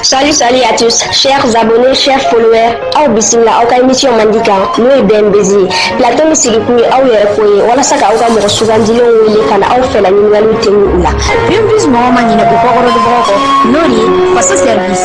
Salut, salut à tous, chers abonnés, chers followers. Aw bisimila aw ka émission mandi kan n'o ye BMBZ ye. Plateau min sigi kun ye aw yɛrɛ ko ye walasa ka aw ka mɔgɔ sugandilenw wele ka na aw fɛla ɲininkaliw tɛmɛ u la. BMBZ mɔgɔ ma ɲinɛ u kɔkɔrɔdonbagaw kɔ n'o de ye faso service.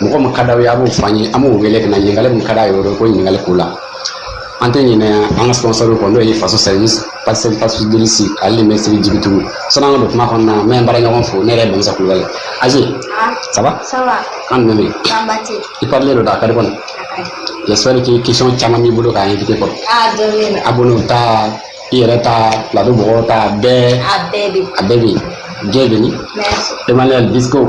mɔgɔ min ka d'aw ye a b'o fɔ an ye an b'o wele ka na ɲininkali min ka d'a ye o ko ɲininkali k'o la an tɛ ɲinɛ an ka sponsor kɔ n'o ye faso service pasel pasibilisi ale ni mɛsiri jigitugu sani an ka don kuma kɔnɔna na n bɛ n baara ɲɔgɔn fo ne yɛrɛ ye bamusa kulubali aje ça va ça va kan jumɛn bɛ yen i parelen don dɛ a ka di kɔni j'espère que question caman b'i bolo k'a invité kɔrɔ abonnés ta i yɛrɛ ta plateau mɔgɔw ta bɛɛ a bɛɛ bɛ yen diɲɛ bɛ ni emmanuel disco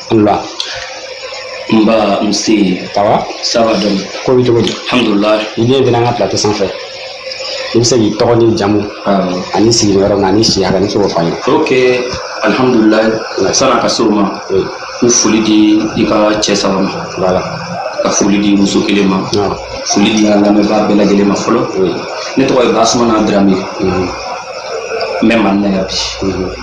Wula nba nse ça va ça va donc ko bɛ cogo di alhamdulilah i bienvenue an ka plateau sanfɛ i bɛ se k'i tɔgɔ ni jamu ani sigilen yɔrɔ min ani si hakɛ n'i sɔn k'o f'an ye ok alhamdulilah san'a ka se o ma n foli di i ka cɛ saba ma voilà ka foli di muso kelen ma foli di an lamɛnbaa bɛɛ lajɛlen ma fɔlɔ ne tɔgɔ ye basumana darame n bɛ mali la yan bi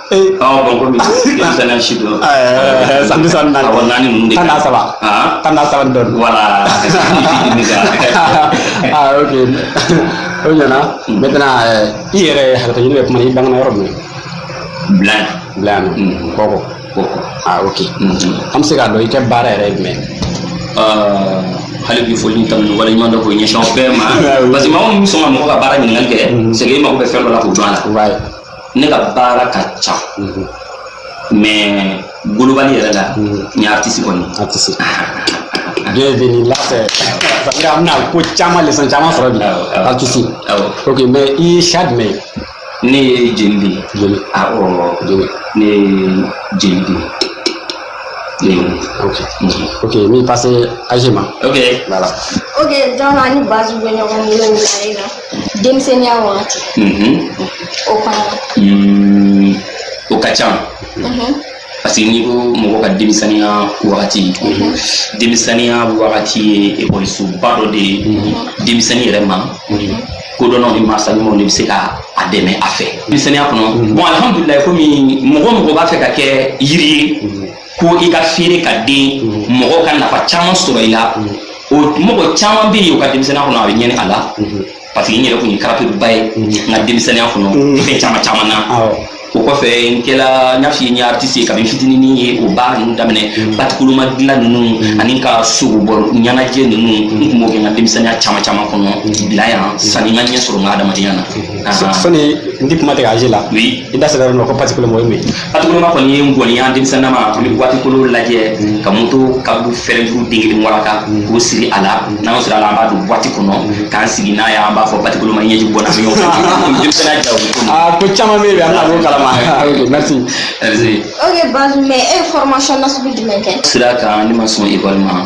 Ee, Ɔ bɔn komi denmisɛnninya si don ɛɛ, san bi saba ni naani. awɔ naani ninnu de Tan n'a saba. Aa, Tan n'a saba ni dɔɔni. voilà ne ka ah ok o ɲana maintenant euh, i yɛrɛ hakɛto ɲini bɛ kuma na i bangana yɔrɔ min bila bila yan Mm. nɔ kɔkɔ ko ko ah ok Mhm. an bɛ se k'a dɔn i ka baara yɛrɛ ye jumɛn Aa, hali bi foli tanuni waleɲumandɔn k'o ɲɛsin aw bɛɛ ma Ah oui. parce que maa minnu bɛ sɔn ka mɔgɔ ka baara ɲininkali kɛ c'est que mago bɛ fɛn dɔ la k'o jɔ a la ye ne ka baara ka ca mais global yɛrɛ la n ye artiste kɔni artiste bienvenue là c'est ça veut dire an bɛna ko caman leçon caman sɔrɔ bi artiste ok mais i ye siya jumɛn ye ne ye jeli de ye jeli awɔ jeli ne ye jeli de ye ok ok n bɛ passer aje ma ok voilà ok donc ani base bɛ ɲɔgɔn bolo nin na denmisɛnninya wagati o kɔnɔ mm, o ka ca parce que n'i ko mɔgɔ ka denmisɛnninya wagati denmisɛnninya wagati ye ekɔlisoba dɔ de ye denmisɛnnin yɛrɛ ma kodɔnnaw ni mansa ɲumanw de bɛ se ka a dɛmɛ a fɛ denmisɛnninya kɔnɔ bɔn alihamudulila komi mɔgɔ mɔgɔ b'a fɛ ka kɛ yiri ye ko i ka feere ka den mɔgɔ ka nafa caman sɔrɔ i la o mɔgɔ caman bɛ yen u ka denmisɛnninya kɔnɔ a bɛ ɲɛni a la parce que n yɛrɛ tun ye karapiliba ye n ka denmisɛnninya kɔnɔ fɛn caman caman na o kɔfɛ n kɛla n y'a f'i ye n ye artiste ye kabi n fitinin n ye o baara ninnu daminɛ mm. batikoloma dilan ninnu mm. ani n ka sogobɔ ɲɛnajɛ ninnu mm. n tun b'o kɛ n ka denmisɛnninya caman caman kɔnɔ bila yan sani n ka ɲɛ sɔrɔ n ka adamadenya na sani n di kuma tigɛ i la i da sera nɔ ko batikoloma o ye mun batikoloma kɔni ye ngɔni ye denmisɛnnama an bɛ buwatikolo lajɛ ka moto kabu fɛrɛnjuru den kelen waraka k'o siri a la n'an y'o siri a la an b'a don buwati kɔnɔ k'an sigi n'a ye an b'a fɔ batikoloma ɲɛji bɔna mi ɲɔgɔn fɛ denmisɛnniya ja o bɛ ko aa ko caman bɛ yen bi an bɛna b'o kalama ok merci merci ok basi mais e ye formation nasugu jumɛn kɛ sira kan ne ma sɔn ekɔli ma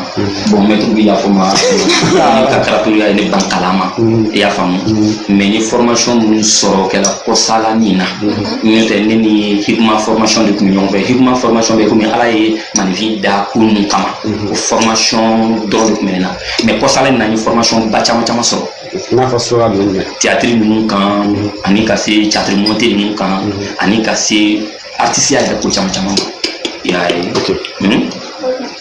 bɔn mɛtiri bɛ yafa n ma n ka karapiliya ye ne ban kalan ma i y'a faamu mɛ n ye fɔrɔmasɔn minnu sɔrɔ kɛla kɔsala nin na n'o tɛ ne ni hikima fɔrɔmasɔn de tun bɛ ɲɔgɔn fɛ hikima fɔrɔmasɔn bɛ komi ala ye maaninfin da ko ninnu kama o fɔrɔmasɔn dɔrɔn de tun bɛ ne na mɛ kɔsala in na n ye fɔrɔmasɔn ba caman caman sɔrɔ n'a fɔ sura ninnu dɛ tiyatiri ninnu kan ani ka se tiyatiri monte ninnu kan ani ka se artisiya yɛrɛ ko caman caman ma i y'a ye ok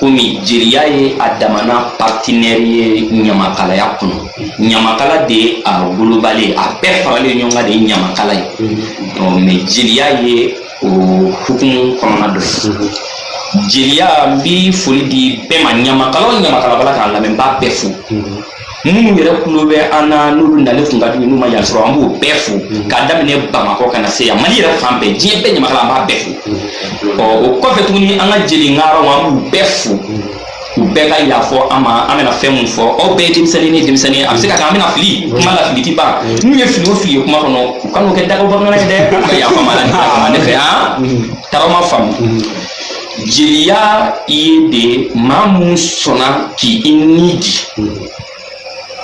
komi jeliya ye a damana partenaire ye ɲamakalaya kɔnɔ ɲamakala de ye a woloba le ye a bɛɛ faralen ɲɔgɔn kan de ye ɲamakala ye mɛ jeliya ye o hukumu kɔnɔna dɔ ye jeliya n bi foli di bɛɛ ma ɲamakala o ɲamakala b'a la k'an lamɛn n b'a bɛɛ fo minnu yɛrɛ kulo bɛ an na n'olu nalen tun ka d'u ye n'u ma yan sɔrɔ an b'o bɛɛ fo mm-hmm. k'a daminɛ bamakɔ ka na se yan mali yɛrɛ fan bɛɛ diɲɛ bɛɛ ɲamakala an b'a bɛɛ fo mm-hmm. ɔ o kɔfɛ tuguni an ka jeli ŋaaraw an b'u bɛɛ fo mm-hmm. u bɛɛ ka yafa an ma an bɛna fɛn mun fɔ an bɛɛ ye denmisɛnnin ni denmisɛnnin a bɛ se ka kɛ an bɛna fili kuma la fili ti ban n'u ye fili o fili ye kuma kɔnɔ u kan'o kɛ dagaw bamanankan ye dɛ u ka yafa an ma ala kama ne fɛ yan taara ma faamu jeliya ye de maa mun sɔnna k'i i ni di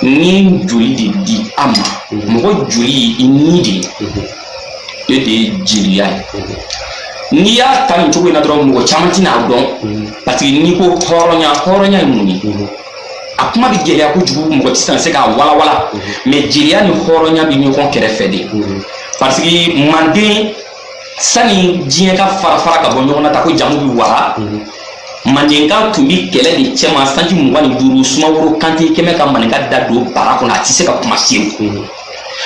ni joli de di a ma mɔgɔ joli ye i ni de ye e de ye jeliya ye n'i y'a ta nin cogo in na dɔrɔn mɔgɔ caman tɛna a dɔn parce que n'i ko hɔrɔnya hɔrɔnya ye mun ye a kuma bɛ gɛlɛya kojugu mɔgɔ tɛ se ka se k'a walawala mɛ jeliya ni hɔrɔnya bɛ ɲɔgɔn kɛrɛfɛ de parce que manden sani diɲɛ ka farafara ka bɔ ɲɔgɔn na ta ko jamu bɛ wara mhm. mandenka tun bɛ kɛlɛ de cɛma sanji mugan ni duuru sumaworo kante kɛmɛ ka maninka da don bara kɔnɔ a tɛ se ka kuma sew mhm.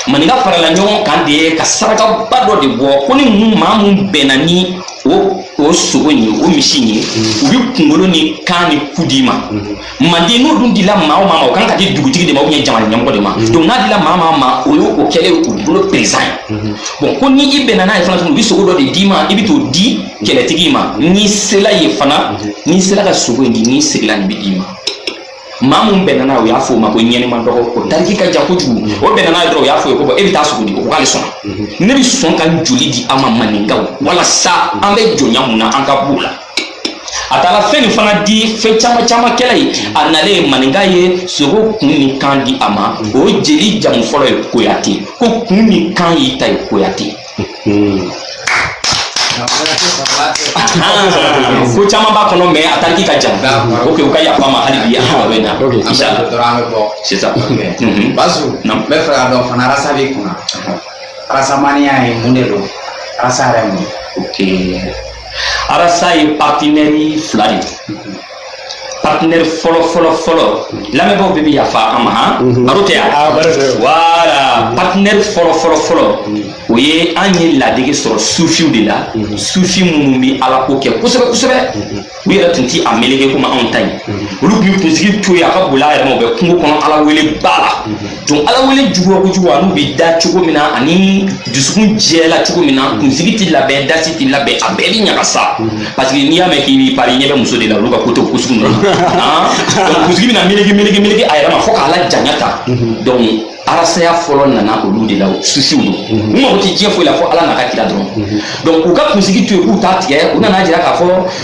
maninka farala ɲɔgɔn kan de ye ka sarakaba dɔ de bɔ ko ni mun maa mun bɛnna ni o o sogo in ye o misi in ye mhm. u bɛ kunkolo ni kan ni ku d'i ma manden n'o dun dila maa o maa ma o kan ka di dugutigi de ma ou bien jamana ɲɛmɔgɔ de ma mhm. donc n'a dila maa maa ma o ye o kɛlen u bolo perezidan ye mhm. bon ko ni i bɛnna n'a ye fana tuguni u bɛ sogo dɔ de d'i ma i bɛ t'o di mhm. kɛlɛtigi ma n'i sela ye fana n'i sela ka sogo in di n'i seginna nin bɛ d'i ma maa mun bɛnna n'a ye o y'a fɔ o ma ko ɲɛnima dɔgɔ o tariki ka jan kojugu o bɛnna n'a ye dɔrɔn o y'a fɔ ye ko bɔn e bɛ taa sogo di o ko k'ale sɔnna ne bɛ sɔn ka joli di aw ma maninkaw walasa an bɛ jɔnya mun na an ka b'o la a taara fɛn nin fana di fɛn caman caman kɛla ye a nalen ye maninka ye sogo kun ni kan di a ma o ye jeli jamu fɔlɔ ye koyate ko kun ni kan y'i ta ye koyate ko caman b'a kɔnɔ mais a tariki ka jan ok u ka yafa ma hali bi an bɛ na inshallah dɔrɔn an bɛ bɔ sisan bazo n bɛ fɛ ka dɔn fana arasa b'i kunna arasamaniya ye mun de don arasa yɛrɛ mun ok arasa ye partenaire fila de partenaire fɔlɔ fɔlɔ fɔlɔ lamɛnbaaw bɛɛ bi yafa an ma han mhm. baro tɛ yan ah, voilà partenaire fɔlɔ fɔlɔ fɔlɔ o ye an ye ladege sɔrɔ sufiw de la mhm. sufi minnu bɛ ala ko kɛ kosɛbɛ kosɛbɛ mhm. u yɛrɛ tun ti a meleke komi anw ta ye olu tun bɛ kunsigi to yen a ka boli a yɛrɛ ma u bɛ kungo kɔnɔ ala wele ba la Donc ala wele juguya kojugu ani u bɛ da cogo min na ani dusukun jɛla cogo min na kunsigi tɛ labɛn dasi tɛ labɛn a bɛɛ bɛ ɲagasa parce que n'i y'a mɛn k'i pari ɲɛ bɛ muso de la olu ka ko t'o ko sugu ninnu na kunsigi bɛna meleke meleke meleke a yɛrɛ ma fo k'a la janya ta dɔnku arasaya fɔlɔ nana olu de la sufiw don u mago tɛ diɲɛ foyi la fo ala n'a ka kira dɔrɔn dɔnku u ka kunsigi to yen k'u t'a tigɛ u nana jira k'a fɔ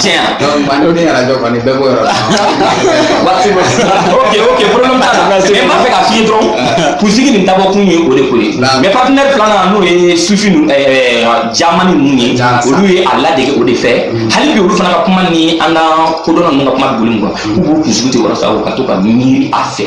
Tiɲɛ kɔni bɛɛ b'o yɔrɔ waati ok ok problème t'a la mais n b'a fɛ k'a f'i ye dɔrɔn kunsigi nin dabɔkun ye o de ko ye mais partenaire filanan n'o ye sufi jamani ninnu ye olu ye a ladege o de fɛ hali bi olu fana ka kuma ni an ka kodɔnna ninnu ka kuma bɛ boli mun kan k'u b'u kunsigi to walasa u ka to ka miiri a fɛ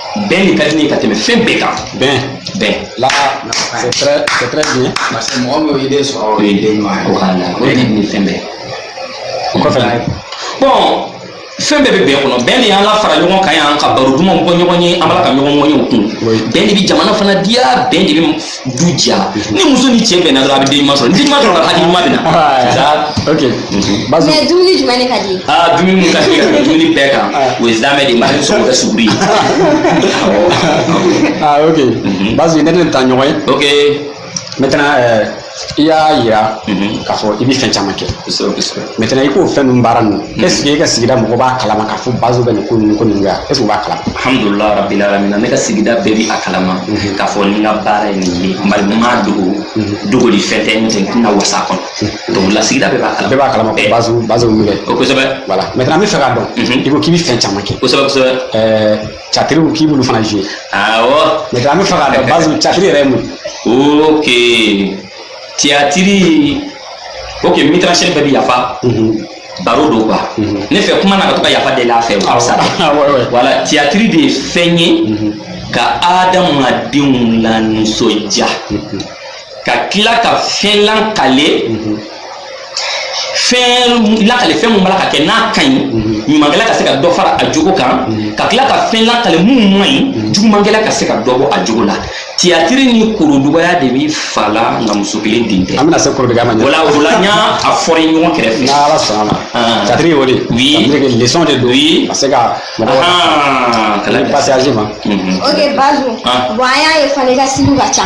bɛn de ka di ne ye ka tɛmɛ fɛn bɛɛ kan bɛn bɛn la c'est très c'est très bien parce que mɔgɔ min y'o idée sɔrɔ o ye idée ɲuman ye voilà o de ni fɛn bɛɛ o kɔfɛ bɔn fɛn bɛɛ bɛ bɛn kɔnɔ bɛn de y'an lafara ɲɔgɔn kan yan ka baro dumanw bɔ ɲɔgɔn ye an b'a la ka ɲɔgɔn ŋɔɲɛw kun bɛn de bɛ jamana fana diya bɛn de bɛ du diya mhm. ni muso ni cɛ bɛnna dɔrɔn a bɛ den ɲuman sɔrɔ den ɲuman sɔrɔla hakili ɲuman bɛ na ok mhm. bazo mais dumuni jumɛn de ka di aa dumuni mun ka di ka tɛmɛ dumuni bɛɛ kan ah. o ye zamɛ de ye maa sɔrɔ ka suguri ye ah ok mhm. bazo ne tɛ taa ɲɔgɔn ye ok maintenant euh, i y'a yira k'a fɔ i bɛ fɛn caman kɛ kosɛbɛ kosɛbɛ maintenant i ko fɛn ninnu baara ninnu est ce que e ka sigida mɔgɔ b'a kalama k'a fɔ bazo bɛ nin ko ninnu ko ninnu kɛ wa est ce que u b'a kalama alhamdulilah rabbil alamina ne ka sigida bɛɛ bi a kalama k'a fɔ ni n ka baara ye nin ye bari n ma dogo dogoli fɛn tɛ n tɛ n tɛna wasa a kɔnɔ donc la sigida bɛɛ b'a kalama bɛɛ b'a kalama ko Eh, bazo bazo min bɛ o kosɛbɛ voilà maintenant an b'a fɛ k'a dɔn Mhm. i ko k'i bɛ fɛn caman kɛ kosɛbɛ kosɛbɛ ɛɛ Tiyatiriw ko k'i b'olu fana jouer awɔ maintenant an b'a fɛ k'a dɔn bazo tiyatiri yɛrɛ ye mun ye ok tiyatiri ok metteur en scène bɛɛ bɛ yafa baro don quoi ne fɛ kuma na ka to ka yafa deli a fɛ o ka fisa voilà tiyatiri de ye fɛn ye ka adamadenw lanisɔndiya ka tila ka fɛn lakale fɛn lakale fɛn mun b'a la ka kɛ n'a ka ɲi ɲumankɛla ka se ka dɔ fara a jogo kan ka tila ka fɛn lakale mun man ɲi jugumankɛla ka se ka dɔ bɔ a jogo la tiyatiri ni kɔrɔdugaya de bɛ fa la nka muso kelen den tɛ. an bɛna se kɔrɔdugaya ma. voilà o la n y'a a fɔra i ɲɔgɔn kɛrɛfɛ. n'ala sɔnna ma. Ah. tiyatiri y'o de ye. oui tiyatiri kɛ leçon de don. oui ka se ka mɔgɔ wɛrɛ. kalan passage ma. ok bazo. Ah. bon an y'a ye fana i ka stiliw ka ca.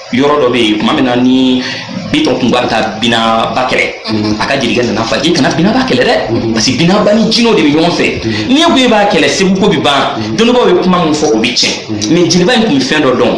yɔrɔ dɔ bɛ yen tuma min na ni bitɔn tun bɛ taa binaba kɛlɛ a ka jelikɛ nana f'a ye k'i kana binaba kɛlɛ dɛ parce que binaba ni jinɛw de bɛ ɲɔgɔn fɛ n'i ko e b'a kɛlɛ segu ko bɛ ban dɔnnibaaw ye kuma min fɔ o bɛ tiɲɛ mais jeliba in tun bɛ fɛn dɔ dɔn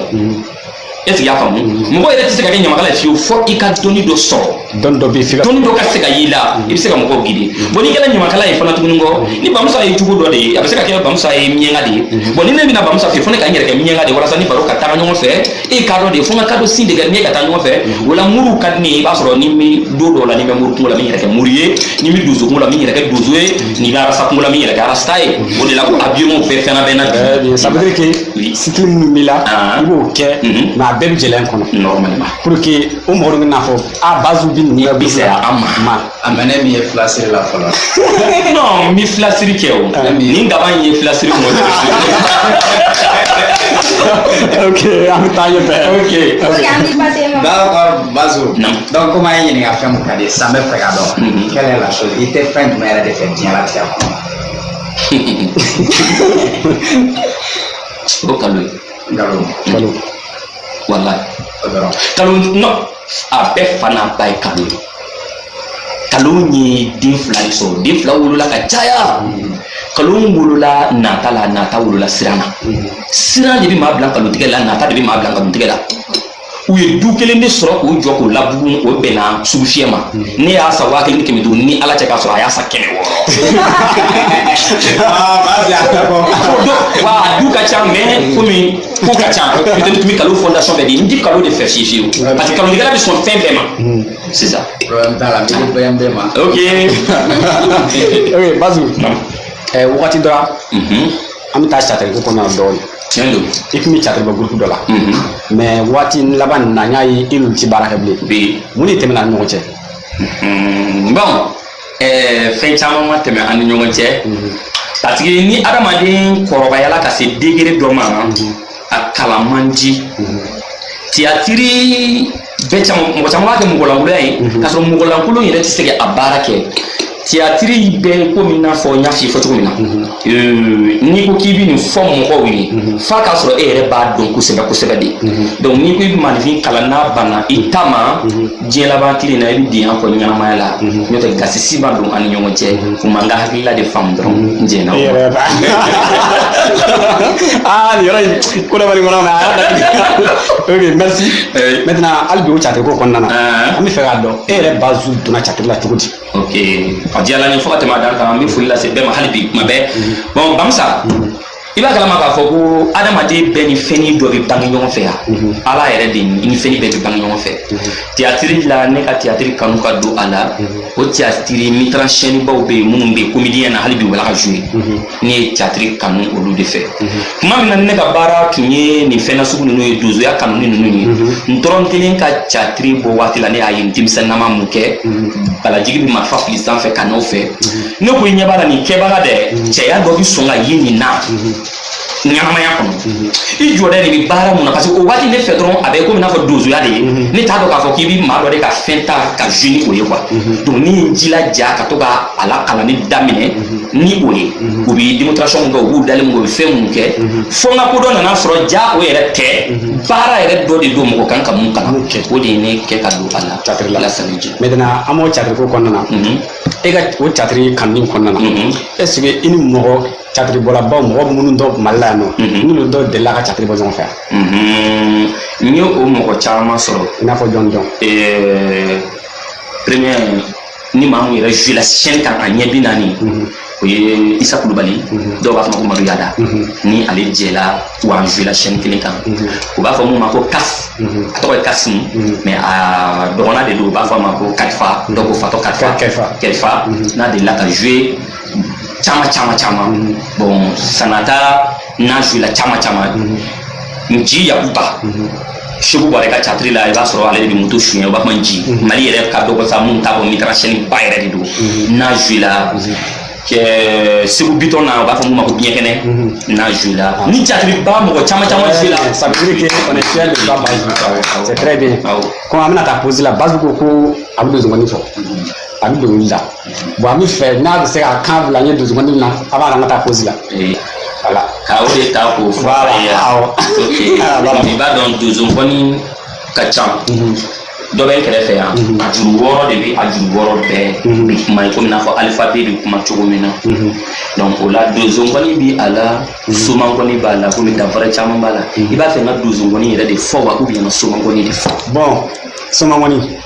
est ce que i y'a faamu mɔgɔ yɛrɛ tɛ se ka kɛ ɲamakala ye fiyewu fɔ i ka dɔnni dɔ sɔrɔ dɔnni dɔ bɛ se ka dɔnni dɔ ka se ka y'i la i bɛ se ka mɔgɔw guider bon n'i kɛra ɲamakala ye fana tuguni kɔ ni bamusa ye jugu dɔ de ye a bɛ se ka kɛ bamusa ye miɲɛnka de ye bon ni ne bɛna bamusa fɛ fo ne ka n yɛrɛ kɛ miɲɛnka de ye walasa ni baro ka taga ɲɔgɔn fɛ e kadɔ de ye fo n ka kadɔ sin de kɛ ne ka taa ɲɔgɔn fɛ o la muru ka di ne ye i b'a sɔrɔ ni n bɛ don dɔw la ni n bɛ muru kunko la n bɛ n yɛrɛ kɛ muru ye ni n bɛ donso kunko la n bɛ n yɛrɛ kɛ donso ye ni n bɛ arasta kunko la n bɛ n yɛrɛ kɛ arasta ye o de la ko habillement bɛɛ fɛnna bɛɛ na Très bien. Ça veut dire que Oui. style minnu b'i la Ah. i b'o kɛ Mhm. mais a bɛɛ bɛ jeliya kɔnɔ normalement pour que o mɔgɔ dun bɛ n'a fɔ a bazo bi nin bɛ se a ma ma a mɛ ne min ye filasiri la fɔlɔ non n bɛ filasiri kɛ o ah. nin gaba in ye filasiri mɔ ok an bɛ taa ɲɛfɛ ok ok d'accord bazo donc komi an y'i ɲininka fɛn mun ka di sisan an b'a fɛ k'a dɔn quelle est la chose i tɛ fɛn jumɛn yɛrɛ de fɛ diɲɛ latigɛ kɔnɔ o kalon ye kalon kalon walayi kalon non a bɛɛ fa n'a ba ye kalon ye kalon ye den fila de sɔrɔ den fila wolola ka caya kalon wolola nata la nata wolola siran na siran de bɛ maa bila kalon tigɛ la nata de bɛ maa bila kalon tigɛ la u ye du kelen de sɔrɔ k'o jɔ k'o labugu o bɛnna sugufiyɛ ma ne y'a san waa kelen ni kɛmɛ duuru ni ala cɛ k'a sɔrɔ a y'a san kɛmɛ wɔɔrɔ wa a du ka ca mais komi ko ka ca peut-être tun bɛ kalo fondation bɛɛ di n ti kalon de fɛ fiyewu fiyewu parce que kalontigɛla bɛ sɔn fɛn bɛɛ ma sisan problème t'a la n bɛ bɛn bɛɛ ma ok ok bazu ɛɛ wagati dɔ la Mhm. an bɛ taa catiriko kɔnɔ yan dɔɔnin tiɲɛ don i tun bɛ catiribɔ gurupu dɔ la Mhm. mais waati laban nin na n y'a ye i n'u ti baara kɛ bilen mun de tɛmɛna an ni ɲɔgɔn cɛ Mhm. bon ɛɛ fɛn caman ma tɛmɛ an ni ɲɔgɔn cɛ parce que ni adamaden kɔrɔbayala ka se degré dɔ ma a kalan man di tiyatiri bɛɛ caman mɔgɔ caman b'a kɛ mɔgɔlankolonya ye k'a sɔrɔ mɔgɔlankolon yɛrɛ tɛ se ka a baara kɛ tiyatiri bɛ komi i n'a fɔ n y'a f'i ye fɔ cogo min na Euh, n'i ko k'i bɛ nin fɔ mɔgɔw ye mhm. f'a k'a sɔrɔ e yɛrɛ b'a dɔn kosɛbɛ kosɛbɛ de mhm. donc n'i ko i bɛ maaninfin kalan n'a banna i mhm. ta ma diɲɛ laban tile na i bɛ denya kɔ ɲɛnamaya la n'o tɛ gasi si ma don an ni ɲɔgɔn cɛ u ma n ka hakilila de faamu dɔrɔn n jɛnna o ma. aa nin yɔrɔ in ko dɔ bɛ nin kɔnɔ mais a y'a datugu ok merci maintenant hali bi o catiri ko kɔnɔna na an bɛ fɛ k'a dɔn e yɛrɛ bazu donna catiri la cogo di. ok a diyala n ye fo ka tɛmɛ a dan kan an bɛ foli lase bɛɛ ma hali bi kuma bɛɛ bon bamusa i b'a kalama k'a fɔ ko adamaden bɛɛ ni fɛnnin dɔ bɛ bange ɲɔgɔn fɛ yan ala yɛrɛ de i ni fɛnnin bɛɛ bɛ bange ɲɔgɔn fɛ tiyatiri la ne ka tiyatiri kanu ka don a la o tiyatiri metteur en scène baw bɛ yen minnu bɛ yen comédien na hali bi u bɛ ka jouer ne ye catiri kanu olu de fɛ tuma min na ne ka baara tun ye nin fɛn na sugu ninnu ye donsoya kanuni ninnu ye ntɔrɔnkelen ka catiri bɔ waati la ne y'a ye n denmisɛnnama mun kɛ balajigi bɛ marifa fili sanfɛ ka n'o fɛ ne ko i ɲɛ b'a la nin kɛbaga dɛ cɛya dɔ bɛ sɔn ka ye nin na ɲɛnamaya kɔnɔ i jɔlen de bɛ baara mun na parce que o waati ne fɛ dɔrɔn a bɛ komi n'a fɔ donsoya de ye ne t'a dɔn k'a fɔ k'i bɛ maa dɔ de ka fɛn ta ka jouer ni o ye quoi donc ne ye n jilaja ka to ka a lakalanni daminɛ ni o ye u bi démonstration min kɛ u b'u dalen min kɛ u bɛ fɛn minnu kɛ fo n ka ko dɔ nana sɔrɔ ja o yɛrɛ tɛ baara yɛrɛ dɔ de don mɔgɔ kan ka mun kalan o de ye ne kɛ ka don a la Catiri la. lasani jɛ maintenant an b'o catiri ko kɔnɔna na Mhm. e ka o catiri kanuni kɔnɔna na Mhm. est ce que i ni mɔgɔ catiri bɔlabaw mɔgɔ minnu dɔ mali la yan nɔ Mhm. n'olu dɔw delila ka catiri bɔ ɲɔgɔn fɛ yan Mhm. n ye o mɔgɔ caman sɔrɔ i n'a fɔ jɔn jɔn Eh, premier ni maa min yɛrɛ joue la scène kan a ɲɛ bi naani o ye isa kulubali dɔw b'a fɔ a ma ko madu yada ni ale jɛla wa an joue la scène kelen kan u b'a fɔ mun ma ko kas a tɔgɔ ye kasim mais a dɔgɔnna de don u b'a fɔ a ma ko kalifa dɔw ko fatɔ kalifa n'a delila ka joue caman caman caman bon sanata n'a joue la caman caman nji yakuba Seku Buwarɛ ka catiri la i b'a sɔrɔ ale de bɛ moto suɲɛ u b'a fɔ Nji mhm. mali yɛrɛ ka dɔgɔ sa min t'a bɔ metteur en scène ba yɛrɛ de don mhm. n'a joué la mhm. segu bitɔn na u b'a fɔ mun ma ko biɲɛ kɛnɛ n'a joué la ah. ni catiri ba mɔgɔ caman caman eh, joué la ça veut dire que on est fier de ça Baseku c'est très bien comme an bɛna taa pause la Baseku ko a bɛ donsonkɔni fɔ a bɛ dɔnkili da bon an b'a fɛ n'a bɛ se ka kan bila n ye donsonkɔni na avant an ka taa pause la voilà ka o de ta k'o fɔ a ye i b'a dɔn donsonkɔni ka ca mhm. dɔ bɛ n kɛrɛfɛ yan mhm. a juru wɔɔrɔ de bɛ a juru wɔɔrɔ bɛɛ mhm. bɛ kuma ye komi n'a fɔ alphabet bɛ kuma cogo min na donc o la donsonkɔni bɛ a la somankɔni b'a la komi danfara caman b'a la i b'a fɛ n ka donsonkɔni yɛrɛ de fɔ wa ou bien n ka somankɔni de fɔ bon somankɔni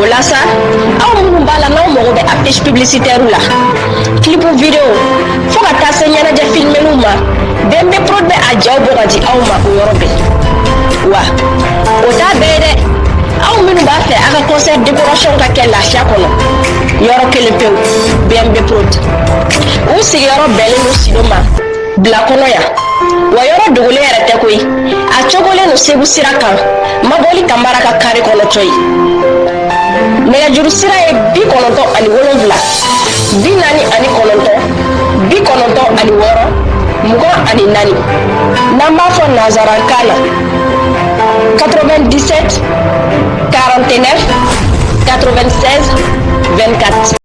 o la sa aw minnu b'a la n'aw mago bɛ affiche publicitaire la clip vidéo fo ka taa se ɲɛnajɛ filmeliw ma BMB Prod bɛ a jaw bɔ ka di aw ma o yɔrɔ bɛɛ wa o t'a bɛɛ ye dɛ aw minnu b'a fɛ a ka concert décoration ka kɛ lafiya kɔnɔ yɔrɔ kelen pewu BMB Prod u sigiyɔrɔ bɛnnen don sido ma bila kɔnɔ yan wa yɔrɔ dogolen yɛrɛ tɛ koyi a cogolen don segu sira kan mabɔli kanbara ka kare kɔnɔ cɔyi nɛgɛjuru sira ye bi kɔnɔntɔn ani wolonwula bi naani ani kɔnɔntɔn bi kɔnɔntɔn ani wɔɔrɔ mugan ani naani n'an b'a fɔ nansarakan na 97 49 96 24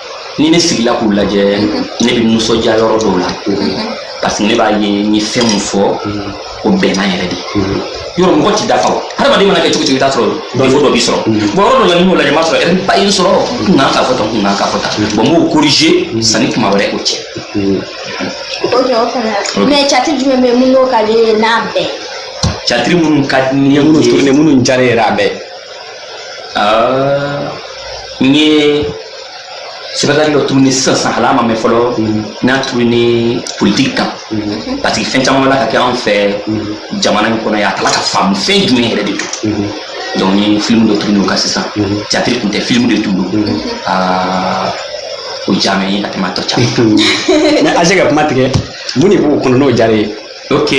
ni ne sigila k'u lajɛ ne bɛ nisɔndiya yɔrɔ dɔw la parce que ne b'a ye n ye fɛn min fɔ o bɛnna yɛrɛ de yɔrɔ mɔgɔ tɛ dafa o hadamaden mana kɛ cogo cogo i t'a sɔrɔ défaut dɔ b'i sɔrɔ bon yɔrɔ dɔ la ni n y'o lajɛ n b'a sɔrɔ erreur ba ye n sɔrɔ n tun kan k'a fɔ tan n tun kan k'a fɔ tan bon n b'o korije sanni kuma wɛrɛ o cɛ o jɔ o fana mais catiri jumɛn bɛ mun n'o ka di i ye n'a bɛɛ catiri minnu ka di ne ye minnu tourner minnu diyara yɛrɛ a bɛɛ Ah, n ye spectacle dɔ tourner sisan san hali a ma mɛn fɔlɔ n y'a tourner politiki kan parce que fɛn caman b'a la ka kɛ anw fɛ jamana in kɔnɔ yan an t'a la k'a faamu fɛn jumɛn yɛrɛ de don donc n ye filimu dɔ tourner o kan sisan catiri tun tɛ filimu de tun don Ah, o diya mɛ n ye ka tɛmɛ a tɔ caman kan mais ase ka kuma tigɛ mun de b'o kɔnɔ n'o diyara i ye ok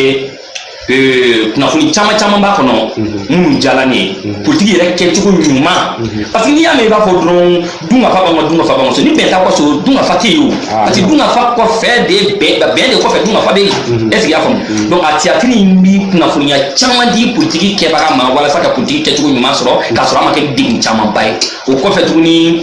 Euh, kunnafoni caman caman b'a kɔnɔ mhm. minnu diyala ne ye mhm. politiki yɛrɛ kɛcogo ɲuman mhm. parce que n'i y'a mɛn i b'a fɔ dɔrɔn dunkafa b'an ka dunkafa b'an ka so ni bɛn t'a kɔsɔ dunkafa tɛ yen o ah, parce que dunkafa kɔfɛ de bɛn bɛn de kɔfɛ dunkafa bɛ yen est ce que i y'a faamu donc a tiyatiri in bi kunnafoniya caman di politiki kɛbaga ma walasa ka politiki kɛcogo ɲuman sɔrɔ k'a sɔrɔ a ma kɛ degun camanba ye o kɔfɛ tuguni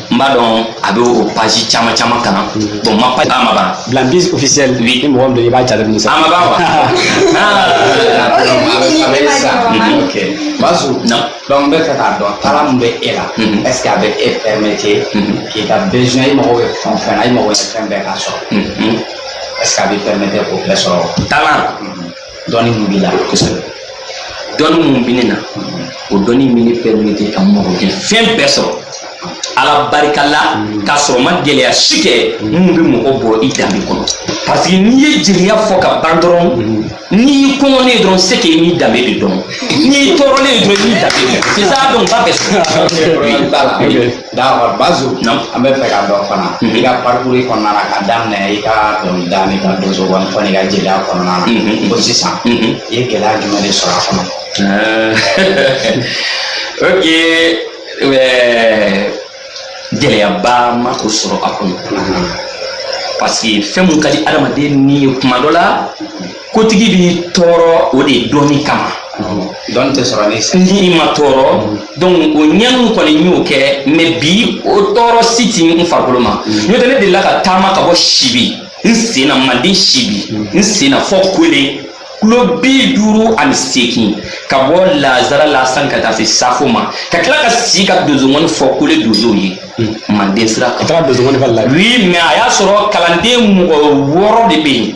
n b'a dɔn a bɛ o page caman caman kan bon ma page a ma ban bila bis officiel oui ni mɔgɔ min don i b'a jate minɛ sa a ma ban wa Bazu donc n bɛ fɛ k'a dɔn talan min bɛ e la est ce que a bɛ e permettre k'i ka besoin i mago bɛ fɛn o fɛn na i mago bɛ fɛn bɛɛ k'a sɔrɔ est ce que a bɛ permettre k'o bɛɛ sɔrɔ talan dɔnni mun b'i la kosɛbɛ dɔnni mun bɛ ne na o dɔnni bɛ ne permettre ka n mago kɛ fɛn bɛɛ sɔrɔ ala barika la k'a sɔrɔ ma gɛlɛya si kɛ mun bɛ mɔgɔ bɔ i danbe kɔnɔ parce que n'i ye jeliya fɔ ka ban dɔrɔn n'i y'i kɔngɔnen ye dɔrɔn c'est que i n'i danbe de dɔn n'i y'i tɔɔrɔlen ye dɔrɔn i n'i danbe de dɔn c'est ça donc ba bɛ sɔrɔ D'accord ah, Bazu an bɛ fɛ k'a dɔn fana mhm. i ka parcours kɔnɔna na ka daminɛ i ka dɔnkilida n'i ka donsongɔni fɔ n'i ka jeliya kɔnɔna na mhm. fo sisan mhm. i ye gɛlɛya jumɛn de sɔrɔ a kɔnɔ ok gɛlɛyaba ma o sɔrɔ a kɔnɔ parce que fɛn mun ka di adamaden ni ye kuma dɔ la kotigi b'i tɔɔrɔ o de dɔnni kama dɔnni tɛ sɔrɔ ni i ma tɔɔrɔ donc o ɲɛnu kɔni n y'o kɛ mais bi o tɔɔrɔ si ti n farikolo ma mm. n'o tɛ ne delila ka taama ka bɔ sibi n sen na manden sibi mm. n sen na fɔ kole kulo bi duuru ani seegin ka bɔ lazara la sani ka taa se safo ma ka tila ka sigi ka donsongɔni fɔ kole donsow ye manden sira kan oui mais a y'a sɔrɔ kalanden mɔgɔ wɔɔrɔ de bɛ yen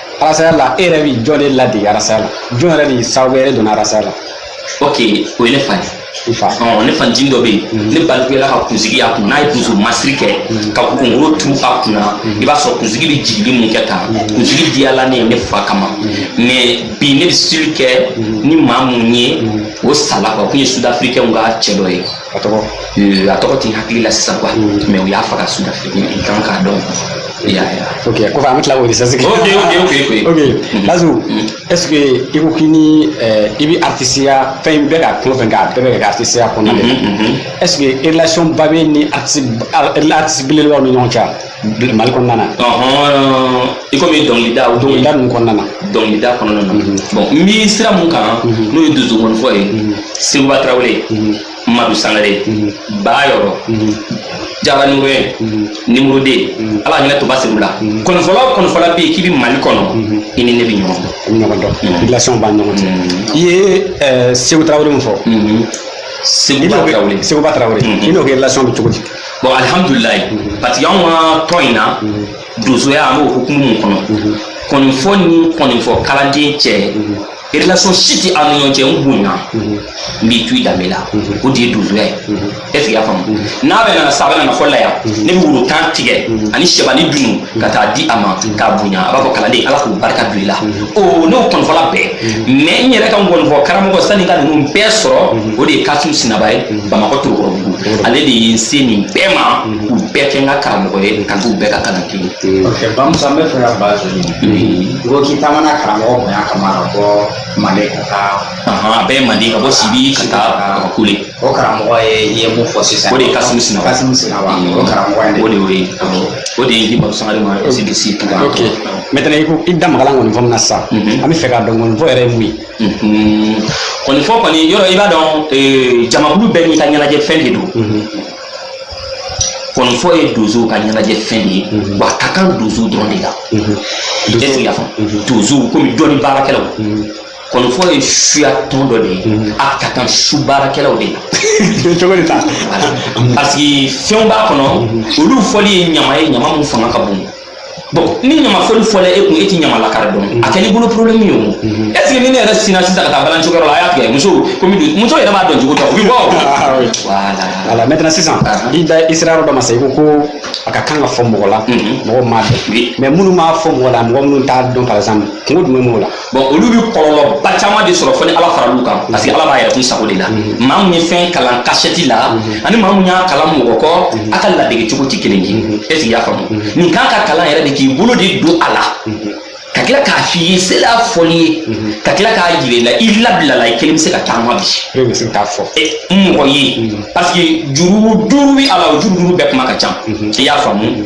arasaya la e yɛrɛ bi jɔn de ladege arasaya la jɔn yɛrɛ de sababu yɛrɛ donna arasaya la ok o ye ne fa ye ɔ ne fancinin dɔ bɛ yen mhm. ne balikuyala ka kunsigi y'a kun n'a ye donso masiri kɛ mhm. ka kunkolo turu a kun na mhm. i b'a sɔrɔ kunsigi bɛ jigili mun kɛ tan kunsigi diyala ne ye ne fa kama mais bi ne bɛ style kɛ ni maa mun ye o sala quoi o kun ye sudafirikɛnw ka cɛ dɔ ye A tɔgɔ ee, a tɔgɔ ti n hakili la sisan quoi mm. mais u y'a faga sudafriki i kan k'a dɔn ya ya ok kɔfɛ an bɛ tila k'o recherche kɛ ok ok ok ok ok mm. Bazu mm. est ce que i ko k'i ni eh, i bɛ artisiya fɛn bɛɛ ka tulo fɛn k'a bɛɛ bɛ kɛ artisiya kɔnɔna de la mm-hmm, mm-hmm. est ce que relation ba b'e ni artisi belebelebaw ni ɲɔgɔn cɛ mali kɔnɔna na i komi dɔnkilida o dɔnkilida ninnu kɔnɔna na dɔnkilida kɔnɔna na mhm. bon n bi sira mun kan mhm. n'o ye donsongɔni fɔ ye mhm. sekuba tarawele madu sangare bayɔrɔ jara nure numéro deux ala ka hinɛ toba sedu la kɔnifɔla o kɔnifɔla bɛ yen k'i bɛ mali kɔnɔ i ni ne bɛ ɲɔgɔn dɔn ɲɔgɔn dɔn relation b'a ɲɔgɔn cɛ i ye eh, seku tarawele min fɔ sekuba tarawele sekuba tarawele i n'o ka relation bɛ cogo di bon alihamudulilayi parce que anw ka tɔn in na donsoya an b'o hukumu min kɔnɔ kɔnifɔ ni kɔnifɔ kalanden cɛ relation si tɛ an ni ɲɔgɔn cɛ n bonya n b'i to i danbe la o de ye donsoya ye est ce que i y'a faamu n'a bɛ na sa a bɛ na fɔ la yan ne bɛ woro tan tigɛ ani sɛba ni dunu ka taa di a ma k'a bonya a b'a fɔ kalanden ala k'u barika don i la o ne y'o kɔnifɔla bɛɛ mais n yɛrɛ ka nkɔnifɔ karamɔgɔ sanni ka ninnu bɛɛ sɔrɔ o de ye kasimu sinaba ye bamakɔ torokɔrɔbugu ale de ye n se nin bɛɛ ma k'u bɛɛ kɛ n ka karamɔgɔ ye ka t'u bɛɛ ka kalan kelen bamusa n bɛ fɛ ka ba to yen i ko k'i taamana karamɔgɔ bonya kama ka bɔ mande ka taa a bɛɛ ye mande ka bɔ sibi ka taa ka kule o karamɔgɔ ye i ye mun fɔ sisan o de ye kasimu sina kasimu sinaba o karamɔgɔ ye o de y'o ye o de ye di bamusa de ma ɛsidisi tuba ok maintenant i ko i da magala kɔni fɔ min na sisan an bɛ fɛ k'a dɔn kɔni fɔ yɛrɛ ye mun ye kɔni fɔ kɔni yɔrɔ i b'a dɔn jamakulu bɛɛ n'i ka ɲɛnajɛ fɛn de don kɔni fɔ ye donsow ka ɲɛnajɛ fɛn de ye wa a ka kan donsow dɔrɔn de la est ce que i y'a faamu donsow komi dɔnni baarakɛlaw kɔni fɔ ye suya tɔn dɔ de ye a ka kan su baarakɛlaw de la cogo de ta parce que fɛnw b'a kɔnɔ olu fɔli ye ɲama ye ɲama mun fanga ka bon bon ni ɲama fɔli fɔla e kun e ti ɲama lakari dɔn a kɛl'i bolo problème ye o est ce que ni ne yɛrɛ sinna sisan ka taa balani show kɛyɔrɔ la a y'a tigɛ muso komi muso yɛrɛ b'a dɔn cogo tɛ o bi bɔ o voilà voilà maintenant sisan i da i sera yɔrɔ dɔ ma sa i ko ko a ka kan ka fɔ mɔgɔ la mɔgɔ m'a dɔn mais minnu m'a fɔ mɔgɔ la mɔgɔ minnu t'a dɔn par exemple kunko jumɛn b'o la bon olu bɛ kɔlɔlɔba caman de sɔrɔ fo ni ala faral'u kan parce que ala b'a yɛrɛ kun sago de la maa min ye fɛn kalan kasɛti la ani maa min y'a kalan mɔgɔ kɔ a ka ladege cogo tɛ kelen ye est ce que i y'a faamu nin kan ka kalan yɛrɛ de k'i bolo de don a la ka tila k'a f'i ye sela fɔli ye ka tila k'a jira i la i labilala i kelen bɛ se ka taama bi e bɛ se k'a fɔ e, mɔgɔ ye parce que juru duuru bɛ a la o juru duuru bɛɛ kuma ka ca i y'a faamu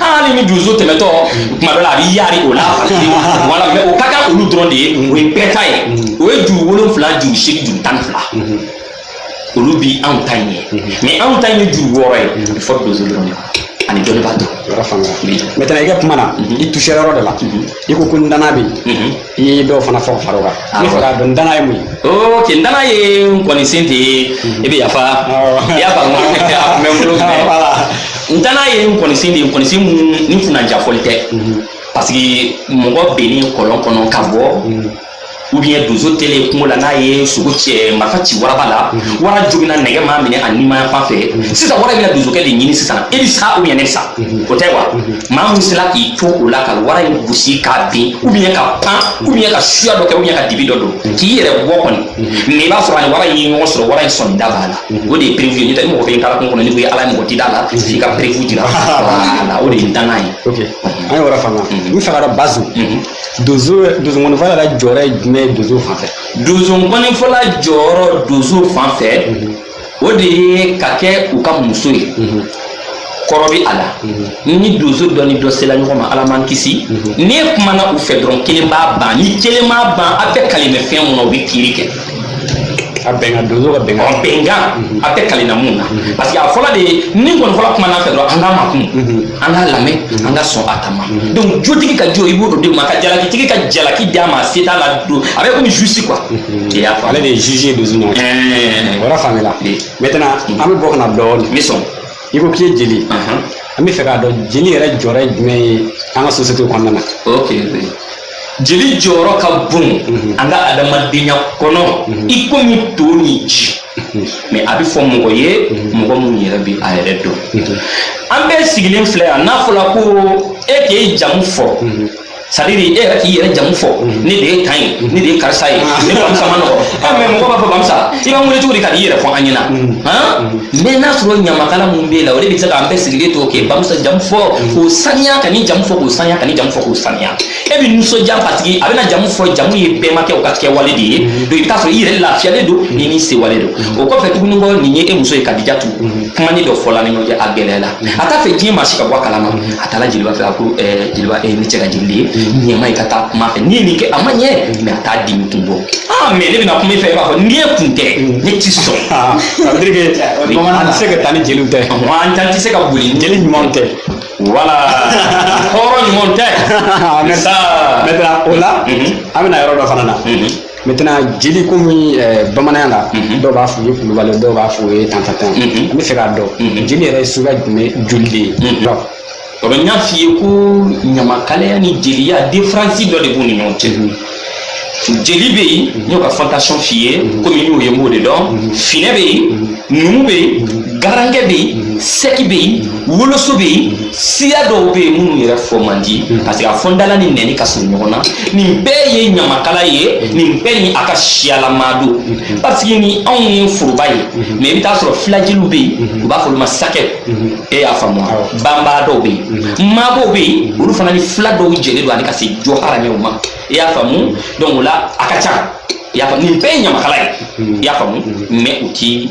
hali ni donso tɛmɛtɔ kuma dɔ la a b'i yaari o la wala mais o ka kan olu dɔrɔn de ye o ye bɛɛ ta ye o ye juru wolonfila juru seegin juru tan ni fila olu bi anw ta in ye mais anw ta in ye juru wɔɔrɔ ye a bɛ fɔ donso dɔrɔn de ma ani dɔnnibaa dɔrɔn yɔrɔ faamuyara maintenant i ka kuma na i tusera yɔrɔ dɔ la i ko ko ndana bɛ yen i ye dɔw fana fɔ ka fara o kan n bɛ fɛ k'a dɔn ndana ye mun ye ok ndana ye nkɔnisen tɛ i bɛ yafa i y'a faamu a tun bɛ n bolo mais Voilà. ndana ye nkɔnisen de ye nkɔnisen mun ni kunnandiya fɔli tɛ parce que mɔgɔ binni kɔlɔn kɔnɔ ka bɔ ou bien donso tele kungo la n'a ye sogo cɛ marifa ci waraba la mhm. wara jogina nɛgɛ m'a minɛ a nimaya fan fɛ mhm. sisan wara bɛna donsokɛ de ɲini sisan e bi sa ou bien ne bi sa mhm. o tɛ wa maa min sera k'i to o la ka wara in gosi k'a bin ou bien ka pan ou bien ka suya dɔ kɛ ou bien ka dibi dɔ don k'i yɛrɛ bɔ kɔni mais i b'a sɔrɔ a ni wara in ye ɲɔgɔn sɔrɔ wara in sɔnni da b'a la o de ye preuve ye n'o tɛ i mɔgɔ fɛ i taara kungo kɔnɔ n'i ko i ye wara ye mɔgɔ ti da a la f'i ka preuve jira voilà o de ye dangan ye an ye yɔrɔ faamuya n fɛ k'a dɔn bazi donso donsokɔni fɔla ka jɔyɔrɔ ye jumɛn ye donso fan fɛ donsokɔni fɔla jɔyɔrɔ donso fan fɛ o de ye ka kɛ u ka muso ye kɔrɔ bɛ a la ni donso dɔ ni dɔ sela ɲɔgɔn ma ala man kisi n'i kumana u fɛ dɔrɔn kelen b'a ban ni kelen b'a ban a bɛ calmer fɛn mun na u bɛ kiri kɛ a bɛnkan donso ka bɛnkan ɔ bɛnkan mhm. a tɛ kalina mun na mhm. parce que a fɔla de ye ni kɔni fɔla kumana a fɛ dɔrɔn an k'a makun mhm. an k'a lamɛn an ka sɔn a ta ma donc jotigi ka jo i b'o d'o de ma ka jalakitigi ka jalaki d'a ma a se t'a la don a bɛ komi juge quoi i y'a faamu ale de ye juge ye donso ɲɔgɔn cɛ o yɔrɔ faamuyala maintenant an bɛ bɔ ka na dɔɔnin n bɛ sɔn i ko k'i ye jeli ye an bɛ fɛ k'a dɔn jeli yɛrɛ jɔyɔrɔ ye jumɛn ye an ka sosiyete kɔnɔna na ok jeli jɔyɔrɔ ka bon an ka adamadenya kɔnɔ i komi to ni ji mais a bɛ fɔ mɔgɔ ye mɔgɔ min yɛrɛ bɛ a yɛrɛ dɔn an bɛɛ sigilen filɛ yan n'a fɔra ko e k'e jamu fɔ c'est-à-dire e yɛrɛ k'i yɛrɛ jamu fɔ mhm. ne de ye tan ye mhm. ne de ye karisa ye ah. ne bamusa ma nɔgɔ ah. ah, mais mɔgɔ b'a fɔ bamusa i b'an wele cogo di ka n'i yɛrɛ fɔ an ɲɛna mais n'a sɔrɔ ɲamakala min b'e la o de bɛ se k'an bɛɛ sigilen to k'e bamusa jamu fɔ k'o saniya ka nin jamu fɔ k'o saniya ka nin jamu fɔ k'o saniya e bɛ nisɔndiya parce que a bɛna jamu fɔ jamu ye bɛnbakɛw ka kɛwale de ye donc i bɛ t'a sɔrɔ i yɛrɛ lafiyalen don ni n'i sewale don o kɔfɛ tuguni ko nin ye e muso ye kadijatu kumanin dɔ fɔla ni ɲɔgɔn cɛ a gɛlɛyala a t'a fɛ diɲɛ maa si ka bɔ a kalama a taara jeliba fɛ a ko eh, jeliba e ne cɛ ka jeli de ye ɲɛma ye ka taa kuma a fɛ n'i ye nin kɛ a ma ɲɛ mais a t'a dimi kun bɔ aa mais ne bɛna kuma i fɛ i b'a fɔ n'i ye kun tɛ ne ti sɔn Ah, ça veut dire que bamanan tɛ se ka taa ni jeliw tɛ wa an t'an tɛ se ka boli ni jeli ɲumanw tɛ voilà hɔrɔn ɲuman tɛ Merci. sa Maintenant, o la Mhm. an bɛna yɔrɔ dɔ fana na Mhm. Maintenant jeli komi ɛɛ bamananya la dɔw b'a f'u ye kulubali dɔw b'a f'u ye tantantan an bɛ fɛ k'a dɔn jeli yɛrɛ ye suguya jumɛn joli de ye dɔn o bɛ n y'a f'i ye ko ɲamakalaya ni jeliya différence dɔ de b'u ni ɲɔgɔn cɛ jeli bɛ yen n y'o ka fantasiyɔn f'i ye komi n y'o ye n b'o de dɔn finɛ bɛ yen numu bɛ yen garankɛ bɛ yen sɛki bɛ yen woloso bɛ yen siya dɔw bɛ yen minnu yɛrɛ fɔ man di hmm. parce que a fɔ n da la ni nɛni ka surun ɲɔgɔn na nin bɛɛ ye ɲamakala ye hmm. nin bɛɛ ni a ka siyalama don hmm. parce que ni anw ye foroba ye mais i bɛ taa sɔrɔ filajeliw bɛ yen u b'a fɔ olu ma sakɛ e y'a faamu banbaadɔw bɛ yen maabɔw bɛ yen olu fana ni fila dɔw jɛlen don ani ka se jokaramɛw ma i y'a faamu donc o la a ka ca i y'a faamu nin bɛɛ ye ɲamakala ye i y'a faamu mais u ti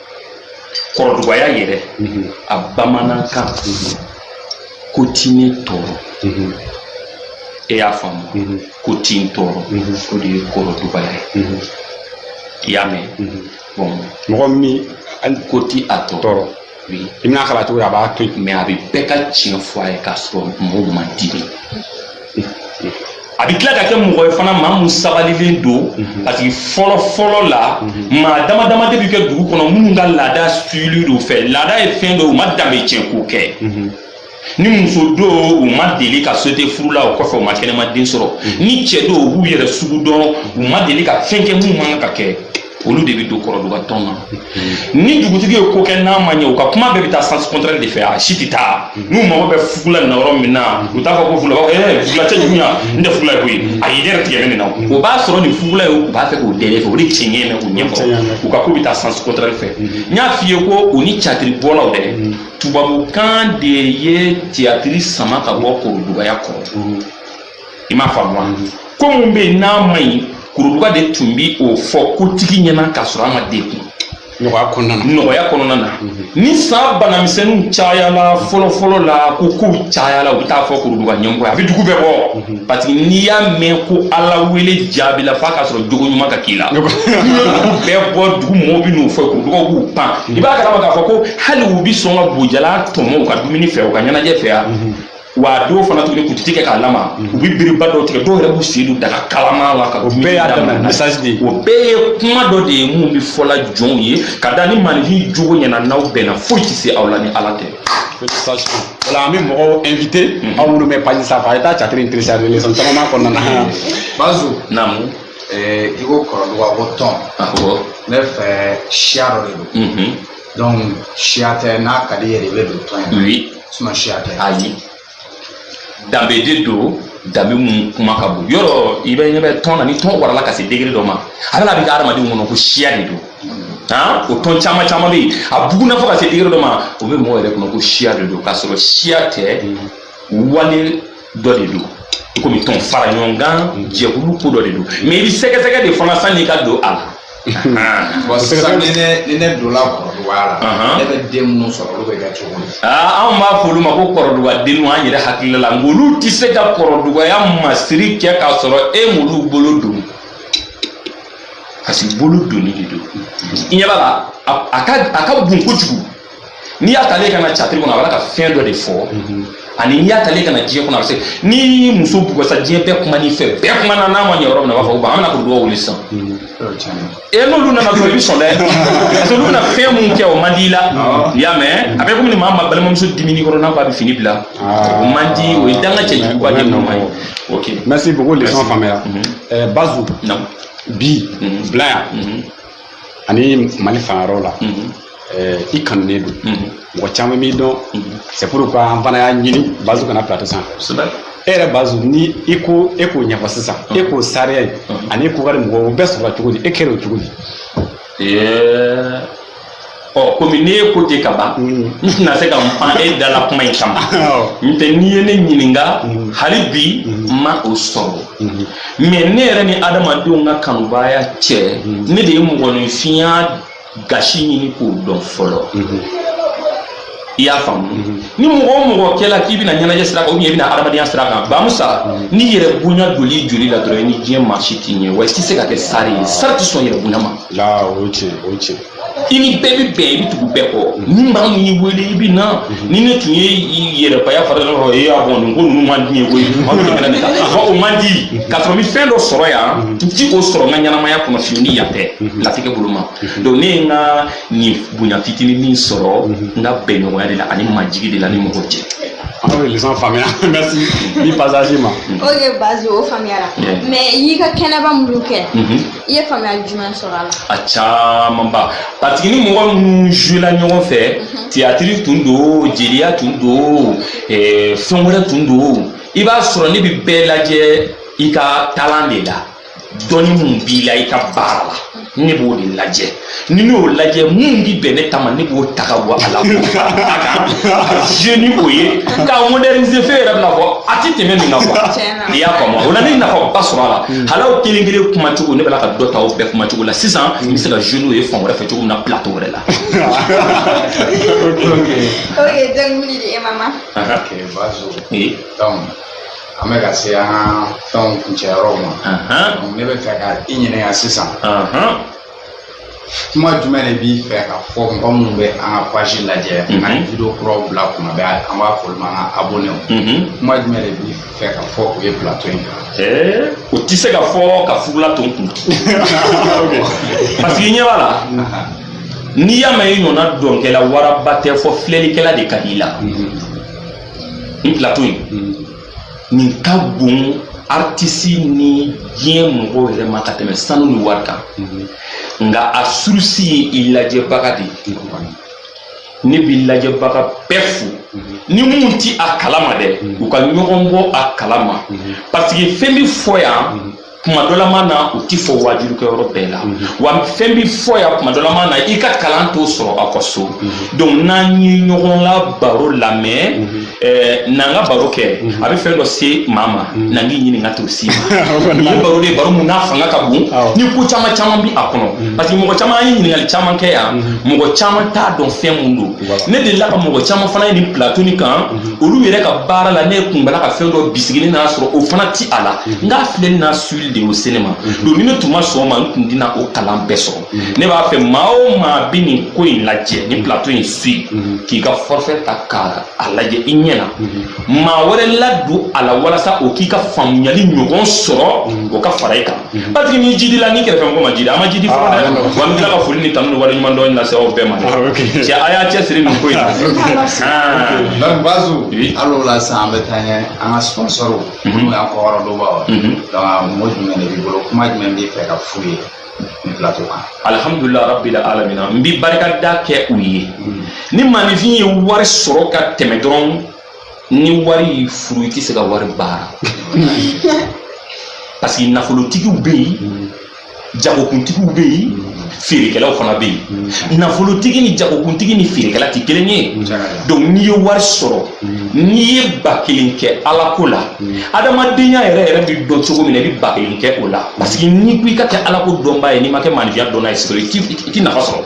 kɔrɔdugaya yɛrɛ mhm. a bamanankan mhm. ko ti ne tɔɔrɔ mhm. e y'a faamu ko ti n tɔɔrɔ o de ye kɔrɔdugaya ye i y'a mɛn bon mɔgɔ min hali ko ti a tɔɔrɔ i mana k'a la cogo a b'a to yen mais a bɛ bɛɛ ka tiɲɛ fɔ a ye k'a sɔrɔ mɔgɔw ma dimi a bɛ tila ka kɛ mɔgɔ ye fana maa mun sabalilen don mhm. parce que fɔlɔ fɔlɔ la mhm. maa dama dama de bɛ kɛ dugu kɔnɔ minnu ka laada suivilen don fɛ laada ye fɛn dɔ u ma danbe tiɲɛ ko kɛ mhm. ni muso don u ma deli ka sauter furu la o kɔfɛ u ma kɛnɛmaden sɔrɔ ni cɛ don u b'u yɛrɛ sugu dɔn u ma deli ka fɛn kɛ minnu man kan ka kɛ olu de bɛ don kɔrɔduga tɔn na ni dugutigi ye ko kɛ n'a ma ɲɛ u ka kuma bɛɛ bɛ taa sens contraire de fɛ a si tɛ taa n'u mago bɛ fugula na yɔrɔ min na u t'a fɔ ko fugula ɛɛ fugula cɛ juguya n tɛ fugula ye koyi a ye ne yɛrɛ tigɛ nin na o b'a sɔrɔ nin fugula ye u b'a fɛ k'u dɛmɛ fɛ o de cɛ ɲɛna u ɲɛ kɔrɔ u ka ko bɛ taa sens contraire fɛ n y'a f'i ye ko u ni catiribɔlaw dɛ tubabukan de ye tiyatiri sama ka bɔ kɔrɔdugaya kɔrɔ i m'a faamu wa ko mun bɛ yen n'a ma ɲi kuruduga de tun bi o fɔ kotigi ɲɛ na k'a sɔrɔ a ma degun nɔgɔya kɔnɔna na ni san banamisɛnninw cayala fɔlɔfɔlɔ la ko kow cayala u bɛ taa fɔ kuruduga ɲɛmɔgɔ ye a bɛ dugu bɛɛ bɔ parce que n'i y'a mɛn ko ala wele jaabila f'a k'a sɔrɔ jogo ɲuman ka k'i la n'u ye dugu bɛɛ bɔ dugu mɔgɔw bɛ n'u fɔ kurudugaw b'u pan i b'a kalama k'a fɔ ko hali u bɛ sɔn ka bo jalan tɔmɔ u ka dumuni fɛ u ka ɲɛnajɛ fɛ yan wa a dɔw fana tuguni kutiti kɛ kalama mhm. u bɛ biriba dɔw tigɛ dɔw yɛrɛ b'u sen don daga kalama la ka dumuni daminɛ message de o bɛɛ ye kuma dɔ de ye mun bɛ fɔ ala jɔnw ye ka da ni maninfin jogo ɲɛna n'aw bɛnna foyi tɛ se aw la ni ala tɛ voilà an bɛ mɔgɔw invité mhm. aw minnu bɛ page sanfɛ a ye taa catiri in télécharger leçon caman b'a kɔnɔna na mhm. bazu naamu i ko kɔrɔduga ko tɔn ne fɛ siya dɔ de don Donc siya tɛ n'a ka di yɛrɛ i bɛ don tɔn in na oui sinon siya tɛ ayi danbe de don danbe mun kuma ka bon yɔrɔ i bɛ ɲɛ bɛ tɔn na ni tɔn warala ka se degré dɔ ma a bɛna a bɛ kɛ adamadenw kɔnɔ ko siya de don han o tɔn caman caman bɛ yen a bugunna fo ka se degré dɔ ma o bɛ mɔgɔ yɛrɛ kɔnɔ ko siya de don k'a sɔrɔ siya tɛ wale dɔ de don i komi tɔn fara ɲɔgɔn kan jɛkulu ko dɔ de don mais i bɛ sɛgɛsɛgɛ de fana sanni i ka don a la bon sisan ni ne ni ne donna kɔrɔdugaya la ne bɛ den minnu sɔrɔ olu bɛ kɛ cogo min anw b'a fɔ olu ma ko kɔrɔduga denw an yɛrɛ hakilila la nka olu tɛ se ka kɔrɔdugaya masiri kɛ k'a sɔrɔ e m'olu bolo don parce que bolo donni de don i ɲɛ b'a la a ka a ka bon kojugu n'i y'a ta ale ka na tiyatiri kɔnɔ a b'a ka fɛn dɔ de fɔ mhm. ani n'i y'a ta ale ka na diɲɛ kɔnɔ a bɛ se ni muso bugasa diɲɛ bɛɛ kuma n'i fɛ bɛɛ kumana n'a ma ɲɛ yɔrɔ min na a b'a fɔ ko an bɛna kɔrɔdugaw wele sisan mhm. e n'olu nana dɔrɔn i bɛ sɔn dɛ parce que olu bɛna fɛn mun kɛ o man di i la i y'a mɛn a bɛ komi ni maa ma balimamuso dimina i kɔrɔ n'a ko a bɛ fini bila ah. o man di o ye danga cɛjuguba de nɔ ma ye ok merci beaucoup leçon faamuyara mhm. eh, bazu bi bi la yan ani mali fan wɛrɛ la eh, i kanunen don mɔgɔ caman b'i dɔn c'est pourquoi an fana y'a ɲini bazu ka na plateau sanfɛ e yɛrɛ bazu ni i ko e k'o ɲɛfɔ sisan e k'o starya ye ani e ko ka di mɔgɔw o bɛɛ sɔrɔla cogo di e kɛra o cogo di Ɛɛ, ɔ komi ne ye ko ten ka ban n tɛna se ka n pan e da la kuma in kama n tɛ n'i ye ne ɲininka hali bi n ma o sɔrɔ mais ne yɛrɛ ni adamadenw ka kanubaya cɛ ne de ye mɔgɔninfinya gasi ɲini k'o dɔn fɔlɔ i y'a faamu ni mɔgɔ o mɔgɔ kɛla k'i bɛna ɲɛnajɛ sira kan i bɛna adamadenya sira kan bamusa ni yɛrɛbonya donna i joli la dɔrɔn i ni diɲɛ maa si tɛ ɲɛ wa i tɛ se ka kɛ star ye star tɛ sɔn yɛrɛbonya ma o ye tiɲɛ o ye tiɲɛ i ni bɛɛ bɛ bɛn i bɛ tugu bɛɛ kɔ ni maa min y'i wele i bɛ na ni ne tun ye yɛrɛbaya fara dɔ kɔrɔ e y'a fɔ nin ko ninnu man di n ye koyi aw bɛ tɛmɛ ne kan a fɔ o man di k'a sɔrɔ n bɛ fɛn dɔ sɔrɔ yan n ti o sɔrɔ n ka ɲɛnamaya kɔnɔ fiyewu ni yan tɛ latigɛ bolo ma donc ne ye n ka nin bonya fitinin min sɔrɔ n ka bɛnɲɔgɔnya de la ani majigi de la ni mɔgɔw cɛ. an bɛ leçon faamuya merci ni passage ma. ok bazu o faamuyara mais i y'i ka kɛnɛba minnu kɛ. i ye faamuyali jumɛn sɔrɔ a la a camanba parce que ni mɔgɔ minnu jouela ɲɔgɔn fɛ mhm. tiyatiri tun don jeliya tun don eh, fɛn wɛrɛ tun don i b'a sɔrɔ ne bɛ bɛɛ lajɛ i ka talent de la dɔnni mun b'i la i ka baara la ne b'o de lajɛ ni ne y'o lajɛ mun bi bɛn ne ta ma ne b'o ta ka bɔ a la k'o fara n ta kan ka jouer ni o ye k'a moderniser fɛn yɛrɛ bɛna fɔ a tɛ tɛmɛ nin kan quoi Tiɲɛ na. i y'a faamu o la ne ye nafaba sɔrɔ a la hali aw kelen kelen kumacogo ne bɛ la ka dɔ ta aw bɛɛ kumacogo la sisan n bɛ se ka jouer n'o ye fan wɛrɛ fɛ cogo min na plateau wɛrɛ la. ok donc mini di e mama ok bazu Ee, donc an bɛ ka se an ka fɛnw kuncɛyɔrɔw ma ahan, donc ne b'a fɛ ka i ɲininka sisan ahan. kuma jumɛn de b'i fɛ ka fɔ mɔgɔ minnu bɛ an ka page lajɛ ka video kuraw bila kuma bɛɛ an b'a fɔ olu ma an ka abonnew kuma jumɛn de b'i fɛ ka fɔ u ye plateau in kan o tɛ se ka fɔ ka fugula to n kun parce que i ɲɛ b'a la n'i y'a mɛn i ɲɔgɔnna dɔnkɛla waraba tɛ fɔ filɛlikɛla de ka di i la nin plateau in nin ka bon aritisi ni diɲɛ mɔgɔw yɛrɛ ma ka tɛmɛ sanu ni wari kan nka a surusi ye i lajɛbaga de ye ne bɛ lajɛbaga bɛɛ fo ni minnu tɛ a kalama dɛ u ka ɲɔgɔn bɔ a kalama parce que fɛn bɛ fɔ yan kuma dɔ la ma na o ti fɔ wajulikɛ yɔrɔ bɛɛ la mhm. wa fɛn bi fɔ yan kuma dɔ la ma na i ka kalan t'o sɔrɔ aw ka so mhm. donc n'an ye ɲɔgɔn la baro lamɛn mhm. eh, n'an ka baro kɛ a bɛ fɛn dɔ se maa ma n'an k'i ɲininka t'o s'i ma nin ye baro de ye baro mun n'a fanga ka bon ni ko caman caman bi a kɔnɔ parce que mɔgɔ caman an ye ɲininkali caman kɛ yan mɔgɔ caman t'a dɔn fɛn mun don ne delila ka mɔgɔ caman fana ye nin plateau nin kan mhm. olu yɛrɛ ka baara la ne ye kun bala ka fɛn dɔ bisigi ne n'a sɔrɔ o fana ti a la mhm. nk'a filɛli n'a suili de y'o se ne ma mhm. donc ni ne tun ma sɔn ma n tun tɛna o kalan bɛɛ sɔrɔ ne b'a fɛ maa o maa bɛ nin ko in lajɛ nin plateau in suit k'i ka forfait ta ka a lajɛ i ɲɛ na maa wɛrɛ ladon a la walasa o k'i ka faamuyali ɲɔgɔn sɔrɔ o ka fara i kan Mhm. parce que n'i jidila n'i kɛrɛfɛ mɔgɔ ma jidi a ma jidi fɔlɔ ah, dɛ wa n tila ka foli ni tanu ni waleɲumandɔn lase aw bɛɛ ma dɛ ah, cɛ a y'a cɛsiri nin ko in na donc bazu alors là sisan an bɛ taa ɲɛ an ka sponsɔrw mhm. n'o y'an kɔkɔrɔdonbaaw mhm. donc a mɔgɔ jumɛn de b'i bolo kuma jumɛn b'i fɛ ka f'u ye nin plateau kan alhamdulila rabbil alamina n bi barikada kɛ u ye ni maninfin ye wari sɔrɔ ka tɛmɛ dɔrɔn ni wari y'i furu i tɛ se ka wari baara parce que nafolotigiw bɛ yen jagokuntigiw bɛ yen feerekɛlaw fana bɛ yen nafolotigi ni jagokuntigi ni feerekɛla tɛ kelen ye donc n'i ye wari sɔrɔ n'i ye ba kelen kɛ ala ko la adamadenya yɛrɛ yɛrɛ bɛ dɔn cogo min na i bɛ ba kelen kɛ o la parce que n'i ko i ka kɛ ala ko dɔnbaa ye n'i ma kɛ maanifinya dɔnna ye sɔrɔ i tɛ nafa sɔrɔ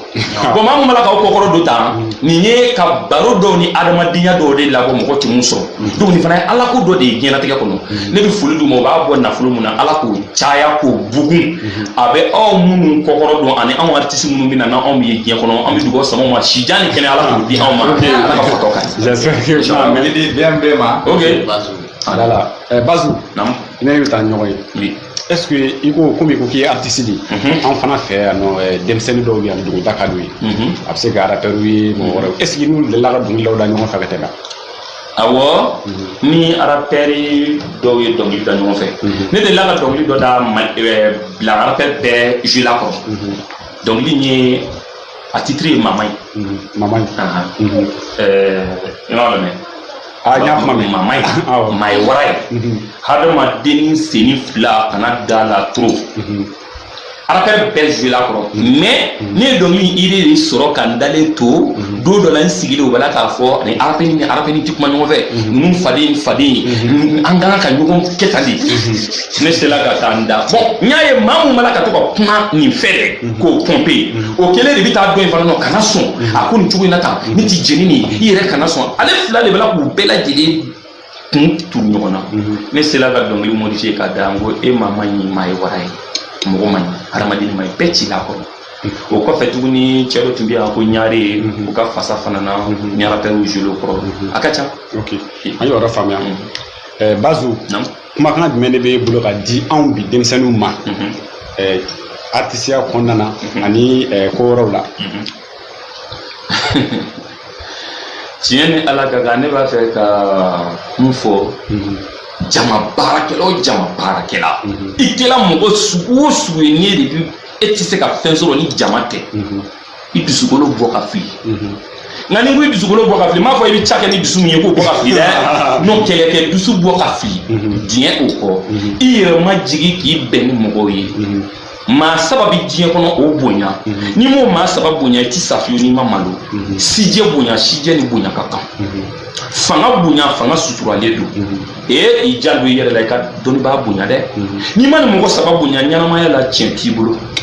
bɔn maa mun b'a la k'aw kɔkɔrɔ don tan mm. nin ye ka baro dɔw ni adamadenya dɔw de labɔ mɔgɔ tɛ mun sɔrɔ mm. donc nin fana ye ala ko dɔ de ye diɲɛlatigɛ kɔnɔ mm. ne bɛ foli d'u ma u b'a bɔ nafolo mun na ala k'o caya k'o bugun mm-hmm. a bɛ aw minnu kɔkɔrɔ don ani anw aritisi minnu bɛ na n'an anw ye diɲɛ kɔnɔ an bɛ dugawu sam'aw ma si jan ni kɛnɛ ala k'o di anw ma ala ka fɔtɔ ka ɲi. mɛlidi bɛn bɛɛ ma. ok. alors là bazu. naamu. an bɛ taa ɲɔgɔn ye. ɛseke i ko komi i ko k'i ye aritisi de ye mhm. an fana fɛ yan nɔ eh, denmisɛnnin dɔw bɛ yan dɔnkili da ka d'u ye mhm. a bɛ se ka arapɛriw ye mɔgɔ wɛrɛw ɛseke i n'u delila ka dɔnkili dɔw da ɲɔgɔn fɛ ka tɛmɛ awɔ mhm. ni arapɛri dɔw ye dɔnkili da ɲɔgɔn fɛ ne delila ka dɔnkili dɔ da eh, mali la arapɛri bɛɛ zuwela kɔrɔ dɔnkili in ye a titiri ye maa ma ɲi maa ma ɲi i m'a lamɛn a y'a kuma mɛ maa ma ɲi maa ye wara ye hadamaden sennin fila kana da a la toro arapɛri bɛɛ zuwela kɔrɔ mɛ ne ye dɔnkili ide de sɔrɔ ka n dalen to don dɔ la n sigilen o bɛ la k'a fɔ ani arapɛri nin ni arapɛri nin ti kuma ɲɔgɔn fɛ ninnu faden faden an ka kan ka ɲɔgɔn kɛ tan de ne sela ka taa n da bɔn n y'a ye maa mun bala ka to ka kuma nin fɛ dɛ mhm. k'o pɔnpe mhm. o kelen de bɛ taa dɔ in fana nɔ kana sɔn mhm. a ko nin cogo in na tan ne ti jeni nin i yɛrɛ kana sɔn ale fila de bala k'u bɛɛ lajɛlen kun turu ɲɔgɔn na ne sela ka dɔnkili modifiye ka da n ko e maa ma ɲi maa ye wara ye mɔgɔ ma ɲi hadamaden ma ɲi bɛɛ zuwela kɔrɔ o kɔfɛ tuguni cɛ dɔ tun bɛ yan ko ɲare o ka fasa fana na arapɛriw zuwela kɔrɔ a ka ca an y'o yɔrɔ faamuya bazu kumakan jumɛn de b'e bolo ka di anw bi denmisɛnninw ma ɛɛ artisiya kɔnɔna na ani ɛɛ ko wɛrɛw la tiɲɛ ni ala ka kan ne b'a fɛ ka mun fɔ jama baarakɛla o jama baarakɛla i kɛla mɔgɔ sugu o sugu ye n'i ye de bi e tɛ se ka fɛn sɔrɔ ni jama tɛ i dusukolo bɔ ka fili nka ni n ko i dusukolo bɔ ka fili m'a fɔ i bɛ ca kɛ ni dusu min ye k'o bɔ ka fili dɛ n ko kɛlɛ kɛ dusu bɔ ka fili diɲɛ o kɔ i yɛrɛ majigin k'i bɛn ni mɔgɔw ye maa saba bɛ diɲɛ kɔnɔ o bonya n'i m'o maa saba bonya i ti sa fiyewu n'i ma malo sijɛ bonya sijɛ ni bonya ka kan fanga bonya fanga suturalen don ee i janto i yɛrɛ la i ka dɔnnibaa bonya dɛ n'i ma nin mɔgɔ saba bonya ɲɛnamaya la tiɲɛ t'i bolo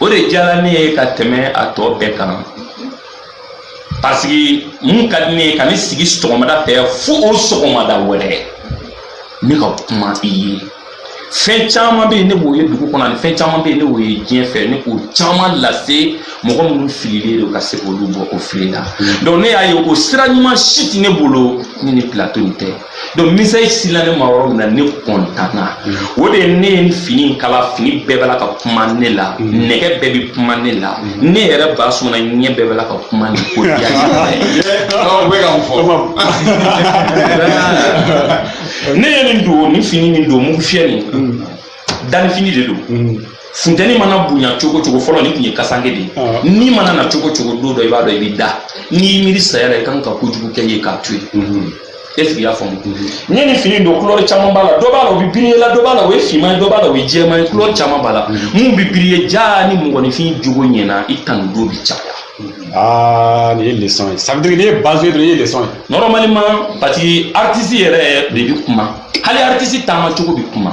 o de diyara ne ye ka tɛmɛ a tɔ bɛɛ kan parce que mun ka di ne ye ka ne sigi sɔgɔmada fɛ fo o sɔgɔmada wɛrɛ ne ka kuma i ye fɛn caman bɛ yen ne b'o ye dugu kɔnɔ ani fɛn caman bɛ yen ne b'o ye diɲɛ fɛ ne k'o caman lase mɔgɔ minnu fililen don ka se k'olu bɔ o fili la donc ne y'a ye ko sira ɲuman si tɛ ne bolo ni nin plateau in tɛ donc message sela ne ma yɔrɔ min na ne kɔntanna o de ye ne ye nin fini in kala fini bɛɛ bɛ la ka kuma ne la nɛgɛ bɛɛ bɛ kuma ne la ne yɛrɛ ba sɔnna ɲɛ bɛɛ bɛ la ka kuma ne ko diya bɛ ka mun fɔ ne ye nin don ni fini nin don mugu fiyɛ nin dannifini de don funteni mana bonya cogo cogo fɔlɔ nin tun ye kasanke de ye ah. ni mana na cogo cogo don dɔ i b'a dɔn i bɛ da n'i miiri saya la i kan ka kojugu kɛ ye k'a to yen mhm. est-ce que i y'a faamu n ye nin fini don kulɔri caman b'a la dɔ b'a la o bɛ biriye la dɔ b'a la o ye finman ye dɔ b'a la o ye jɛman ye kulɔri caman b'a la mun bɛ biriye jaa ni mɔgɔninfin jogo ɲɛna i tanu don bɛ caya. aa nin ye leçon ye ça veut dire n'i ye Bazu ye dɔrɔn i ye leçon ye. normalement parce que artiste yɛrɛ de bɛ kuma hali artiste taama cogo bɛ kuma.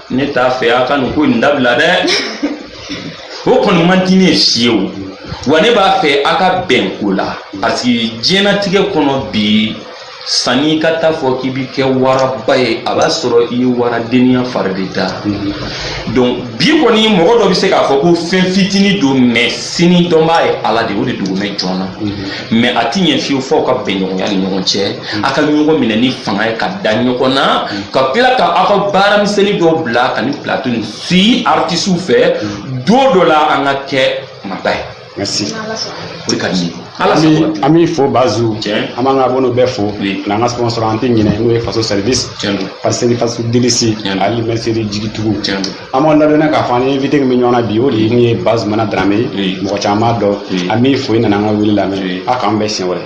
ne t'a fɛ a ka nin ko in dabila dɛ o kɔni man di ne ye fiyewu wa ne b'a fɛ a ka bɛn ko la parce que diɲɛnatigɛ kɔnɔ bi sanni i ka taa fɔ k'i bi kɛ waraba ye a b'a sɔrɔ i ye waradenya fari de da donc bi kɔni mɔgɔ dɔ bɛ se k'a fɔ ko fɛn fitinin don mais sini dɔnbaa ye ala de o de dogolen jɔn na mais a tɛ ɲɛ fiyewu fɔ ka bɛnɲɔgɔnya ni ɲɔgɔn cɛ a ka ɲɔgɔn minɛ ni fanga ye ka da ɲɔgɔn na ka tila ka aw ka baara misɛnnin dɔw bila ka ni plateau ni si artisiw fɛ don dɔ la an ka kɛ maaba ye merci o de ka di ye ala sago an b'i fo Bazu Tiɲɛ. an b'an ka abonnéw bɛɛ fo Oui. ani an ka sponsor an tɛ ɲinɛ n'o ye faso service Tiɲɛ don. pâtisserie Faso Délice Tiɲɛ don. Ali mercerie Jigitugu Tiɲɛ don. an b'aw ladɔnniya k'a fɔ an ni invité min bɛ ɲɔgɔn na bi o de ye min ye Bazumana Darame ye mɔgɔ caman b'a dɔn an b'i fo i nana an ka wele lamɛn a k'an bɛn siɲɛ wɛrɛ